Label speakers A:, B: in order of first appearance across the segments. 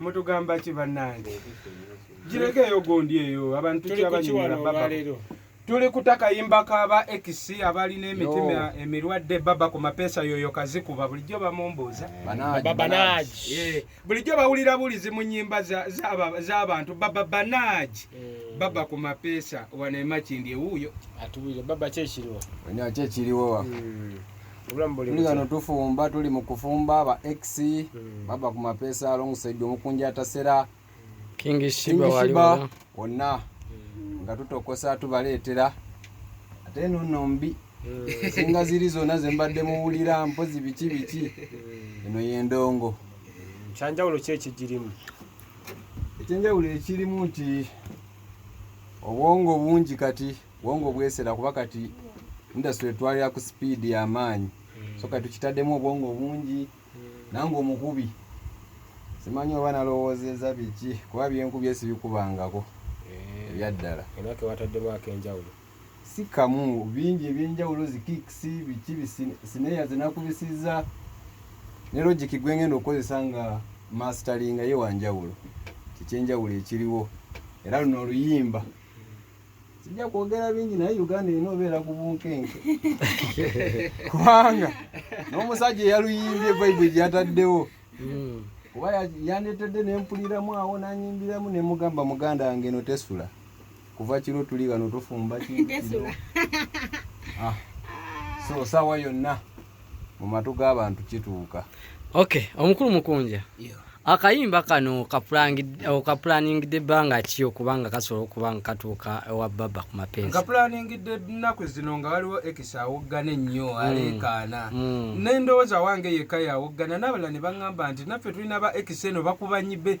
A: mutugamba ki bannange gireko eyo gundi eyo abantu kyabanyumira baba tuli kutakayimba kaba ex abalina emitima emirwadde baba ku mapeesa yoyo kazikuba bulijjo bamumbuuza bulijjo bawulira bulizi mu nyimba z'abantu baba banaji eh. baba ku mapeesa wanemakindi ewuuyo atubire baba
B: kyekiriwo kyekiriwo
C: hmm. tuli gano tufumba tuli mu kufumba ba x hmm. baba ku mapeesa alongside omukunja atasera
B: kingishiba wonna hmm.
C: nga tutokosa tubaleetera ate nono mbi hmm. singa ziri zonna zembadde muwulira mpozi biki biki eno yendongo kyanjawulo
B: ki ekigirimu
C: ekyenjawulo ekirimu nti obwongo bungi kati bwongo bwesera kuba kati industry etwalira ku speed yamaanyi mm. so kati tukitaddemu obwongo bungi mm. nange omukubi simanyi oba nalowoozeza biki kuba byenkubye sibikubangako eh. ebyaddala enake wataddemu
B: akenjawulo si kamu
C: bingi ebyenjawulo zikiksi biki sineya zinakubisiza ne logiki gwengenda okukozesa nga masteringa ye wanjawulo kikyenjawulo ekiriwo era luno oluyimba sijja kwogera bingi naye uganda erina obeera ku bunkenke kubanga n'omusajja eyaluyimbye baibuli gyeyataddewo hmm. kuba yandetedde nempuliramu awo nanyimbiramu nemugamba muganda wange no tesula kuva kiro tuli wano tufumba ah. so sawa yonna mu matu g'abantu kituuka okay omukulu
B: mukunja yeah. akayimba kano okapulaningidde ebbanga ki okubanga kasobola okuba nga katuuka ewa baba ku mapenziakapulaningidde ennaku
A: zino nga waliwo ekisa awoggana ennyo mm. aleekaana mm. nendowooza wange yekka yawoggana nabala ne baŋŋamba nti naffe tulina ba ekisa eno bakubanyibe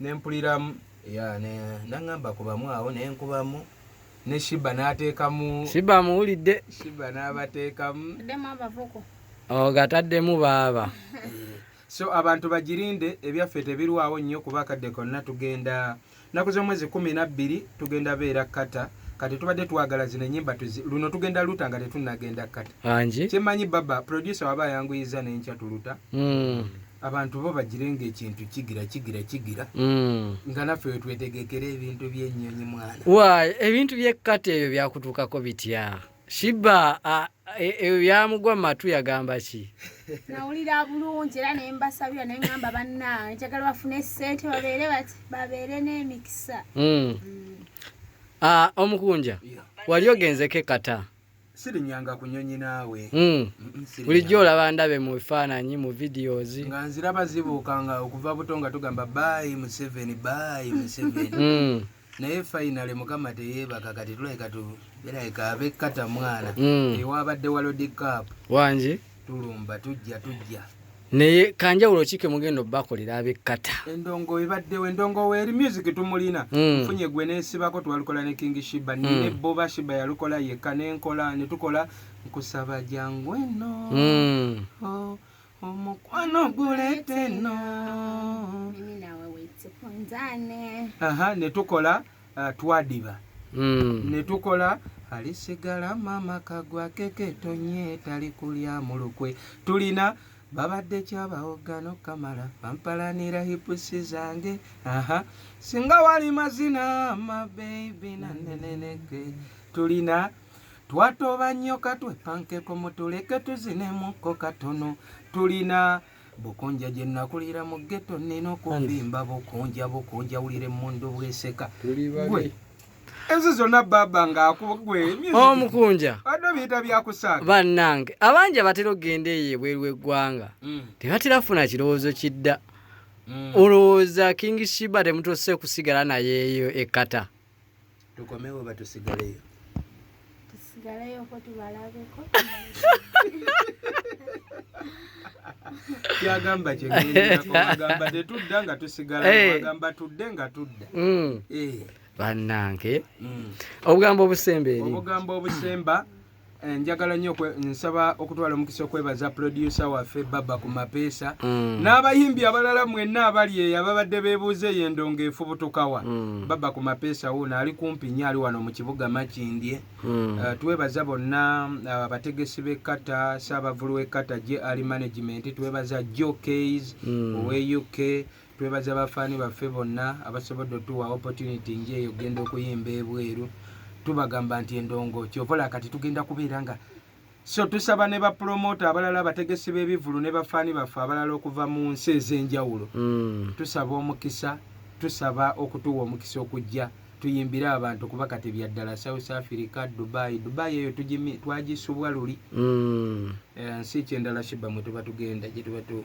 A: nempuliramu ya nangamba kubamu awo nenkubamu ne shiba natekamu shiba muwulidde
B: shiba nabatekamu
A: ogataddemu
B: oh, baaba so
A: abantu bagirinde ebyaffe tebirwawo nnyo kuba akadde konna tugenda naku z'omwezi kumi nabbiri tugenda beera kata kati tubadde twagala zino enyimba luno tugenda luta nga tetunagenda kati kyemanyi baba producer waba ayanguyiza nenkya tuluta mm. abantu bo bagire ngaekintu kigira kigira kigira mm. nga naffe wetwetegekera ebintu byenyonyi mwana wa ebintu byekkati
B: ebyo byakutuukako bitya shiba e, ebyo byamugwa mu matu yagamba ki nawulira
D: bulungi era nembasabira naye ngamba bannange njagala bafune esente babeere bati babeere n'emikisa mm. mm. ah,
B: omukunja wali ogenzeko ekata yeah. sirinyanga
A: kunyonyi naawe hmm. bulijjo
B: olaba ndabe mu bifaananyi mu videos nga nziraba
A: zibuuka nga okuva buto nga tugamba bayi museveni bayi museveni hmm. naye finale mukama teyeebaka kati tulabika tu birabika abekata mwana hmm. ewabadde walodi cap wangi
B: tulumba tujja
A: tujja naye
B: kanjawulo ki kemugenda obakolera abekkata endongo ebaddewo
A: endongo weeri music tumulina hmm. nfunye gwe nesibako twalukola ne king shiba hmm. nine boba shiba yalukola yekka nenkola netukola nkusaba jangu eno hmm. oh, omukwano guleeta eno aha netukola mm. ah, twadiba hmm. ne tukola alisigala mama kagwa keke tonye tali kulya mulukwe tulina babadde kyabawoggano kamala bampalanira hipusi zange aha singa wali mazina mabebi naneneneke tulina twatoba nnyo katwepankeko mutuleke tuzinemuko katono tulina bukunja gye nakulira mu ghetto nina okuvimba bukunja bukunja wulira emmundu bweseka gwe ezo zonna baba ngaakugwe omukunja
B: oh, adde biyita
A: byakusaga bannange abangi
B: abatera okugenda eyo ebweru w'eggwanga mm. tebatera funa kirowoozo kidda mm. olowooza king shiba temutuuse kusigala nayeeyo ekata tukomewo
A: oba tusigaleyo
D: tusigaleyoko tubalabeko
A: kyagamba kyeagamba tetudda nga tusigalagamba eh. tudde nga tudda hmm. eh. bannange
B: hmm. obugambo obusemba eri obugambo obusemba Eh, njagala nyo nsaba okutwala omukisa okwebaza producer waffe baba ku mapeesa mm. n'abayimbi abalala mwenna abali eyo ababadde bebuuza eyo endongo efubutukawa mm. baba ku mapeesa wuuno ali kumpi nyo ali wano mu kibuga makindye mm. eh, twebaza bonna eh, abategesi uh, b'ekkata saabavulu w'ekkata je ali management twebaza jo kays mm. owe uk twebaza bafaani baffe bonna abasobodde otuwa opportunity nje eyo genda okuyimba ebweru tubagamba nti endongo kyovola kati tugenda kubeera nga so tusaba ne bapromota abalala abategesi b'ebivulu ne bafaani baffe abalala okuva mu nsi ez'enjawulo mm. tusaba omukisa tusaba okutuwa omukisa okujja tuyimbire abantu kuba kati byaddala south africa dubai dubai eyo twagisubwa luli mm. eh, nsi kyendala shiba mwe tuba tugenda gyetuba tu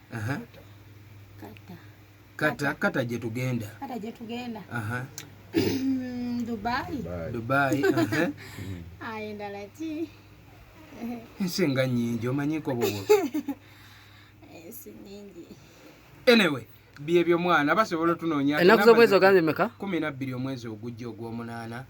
A: Aha. Kata. Kata kata je tugenda. Kata je tugenda. Aha. Dubai. Dubai. Aha.
D: Ayenda lati.
A: Ensenga nyingi omanyiko bobo. Ensi
D: nyingi. Anyway.
A: byebyo mwana basobola otunoonya ennaku z'omwezi ogambye meka
B: kumi nabbiri omwezi
A: ogujja ogw'omunaana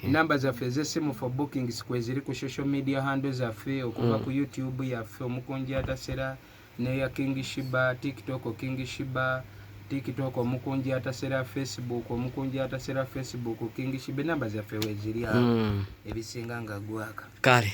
A: namba zaffe ez'essimu for bookings kweziri ku social media hando zaffe okuva mm. ku youtube yaffe omukunjatasera neya King Shiba, TikTok King Shiba, TikTok omukunji atasera Facebook, omukunji atasera Facebook King Shiba, enamba zaffe weziri awo hmm. ebisinga nga gwaka. Kale.